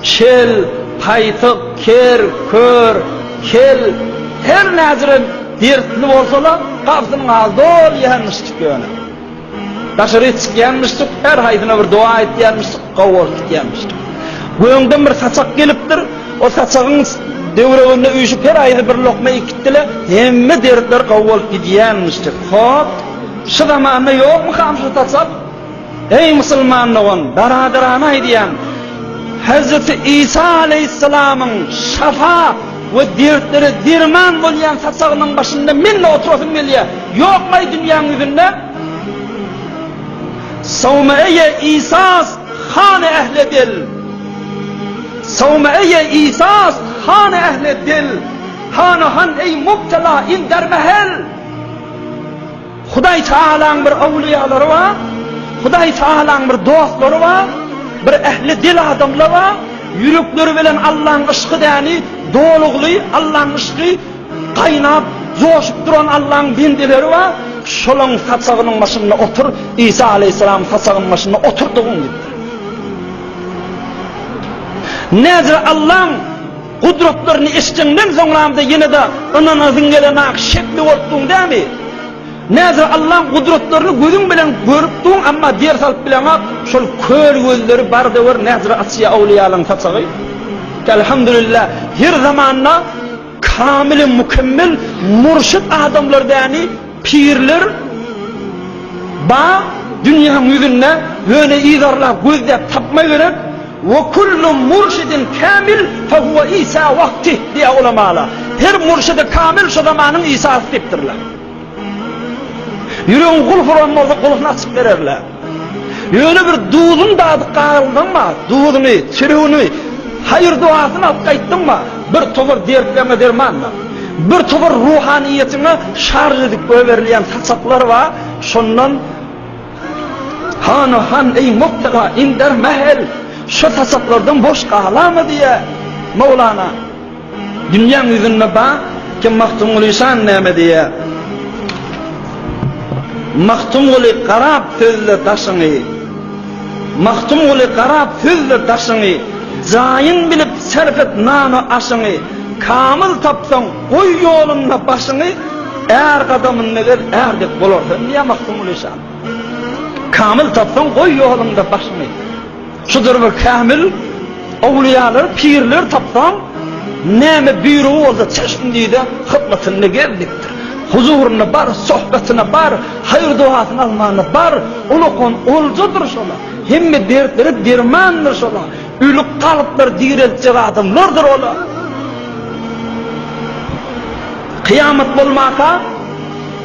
Kel, taýsyk, ker, kör, kel, her näcire dertli bolsa-la, gapysynyň aly doly ýänmişjik ýöne. Daşaryk çykýanmyşjyk, her haýsyna bir dowa aýtýanmyşjyk, gowy bolup gidýänmişjik. Göňden bir saçak gelipdir, o saçagyň döwreginde üýşüp her haýsy bir lokma ekitdi-le, hemme dertler gowy bolup gidýänmişjik. Hop, şu zamanda ýokmykam şu saçak? Eý musulman dogan, baradarana aýdýan, Hezreti Isa aleýhissalamyň şafa we dertlere derman bolýan saçagynyň başynda men-de oturasym gelýär. Ýokmaý dünýäň ýüzünde? Sawmaeýe Isas hany ähli dil. Sawmaeýe Isas hany ähli dil. Hany han eý mubtela in dermehel. Hudaý Tagalaň bir owliýalary bar, Hudaý Tagalaň bir dostlary bar, bir ähli dil adamla bar, ýürekleri bilen Allaň yşky däni dolugly, Allaň yşky gaýnap, joşup duran Allaň bendeleri bar, şolaň saçagynyň başynda otur, Isa Aleýhissalam saçagynyň başynda oturdygyň ýaly. Näzire Allaň Gudratlaryny eşdeňden soňramda ýene-de ynanasyň gelen-ak şekli bolup duň dämi? Näzir Allaň gudratlaryny gözüň bilen görüp duň, emma der salyp bileňok, şol kör gözleri barda gör Näzir Asýa Awlyýalaň saçagy. Elhamdülillah, her zamanda kamil-i mükemmel murşyt adamlar däni? Pirler bar dünýäň ýüzünde, ýöne yzarlap gözläp tapma gerek. Ve kullu murşidin kamil fehuve İsa vaktih diýýär ulemalar. Her murşidi kamil şu zamanyň Isasy diýipdirler. Ýüregiň gulfy ron bolsa gulfyny açyp bererler. Ýöne bir duzuň dady galdyňmy, duzuny, çüregini, haýyr-dogasyny alyp gaýtdyňmy, bir topar dertleriňe derman bar. Bir topar ruhanyýetiňe şarž edip goýberilýän saçaklar bar, şondan Hany, han, eý, mubtela, inder, mähel, şu saçaklardan boş galamy diýýär Mowlana. Dünýäň ýüzünde bar kim Magtymguly şan näme diýýär? Magtymguly garap sözle daşyňy Magtymguly garap sözle daşyňy Jaýyn bilip serp et nano aşyňy Kamyl tapsaň goý ýolunda başyňy Är gadamynda gez är dek bolarsyň diýýär Magtymguly şan Kamyl tapsaň goý ýolunda başyňy Şudur bir kämil owliýalar, pirler tapsam, näme buýrugy bolsa çeşmdide hyzmatynda gezdikdir. Huzuryna bar, sohbetyna bar, haýyr-dogasyny almana bar, ulakan oljadyr şolar. Hemme dertlere dermandyr şolar. Ölüp galyplar direltjek adamlardyr olar. Kyýamat bolmaka,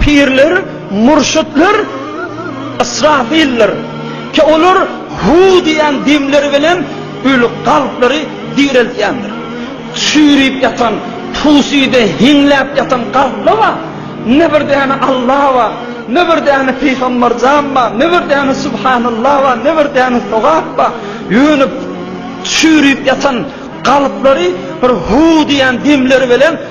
Pirler, murşytlar Ysrafildir. Ki olar Hu diýen demleri bilen öli kalplary direltýändir. Çüýrüp ýatan, pusuýda heňläp ýatan kalplar bar. Ne bir däne Alla bar, ne bir däne Pygamberjan bar, ne bir däne Subhanallah bar, ne bir däne sogap bar. Ýöne çüýrüp ýatan kalplary bir Hu diýen demleri bilen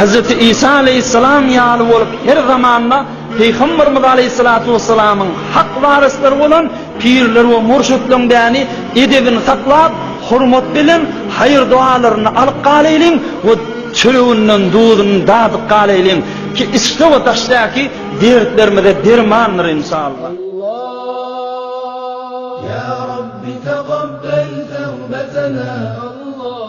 Hezreti Isa aleýhissalam ýaly bolup her zamanda Pygamberimiz aleýhissalatu wessalamyň hak waryslary bolan pirler we murşytlaryň däni edebini saklap hormat bilen haýyr doalaryny alyp galaýlyň we çöreginden duzuny dadyp galaýlyň ki içde we daşdaki dertlerimize dermandyr inşallah. Allah Ya Rabbi taqabbel tövbetena Allah.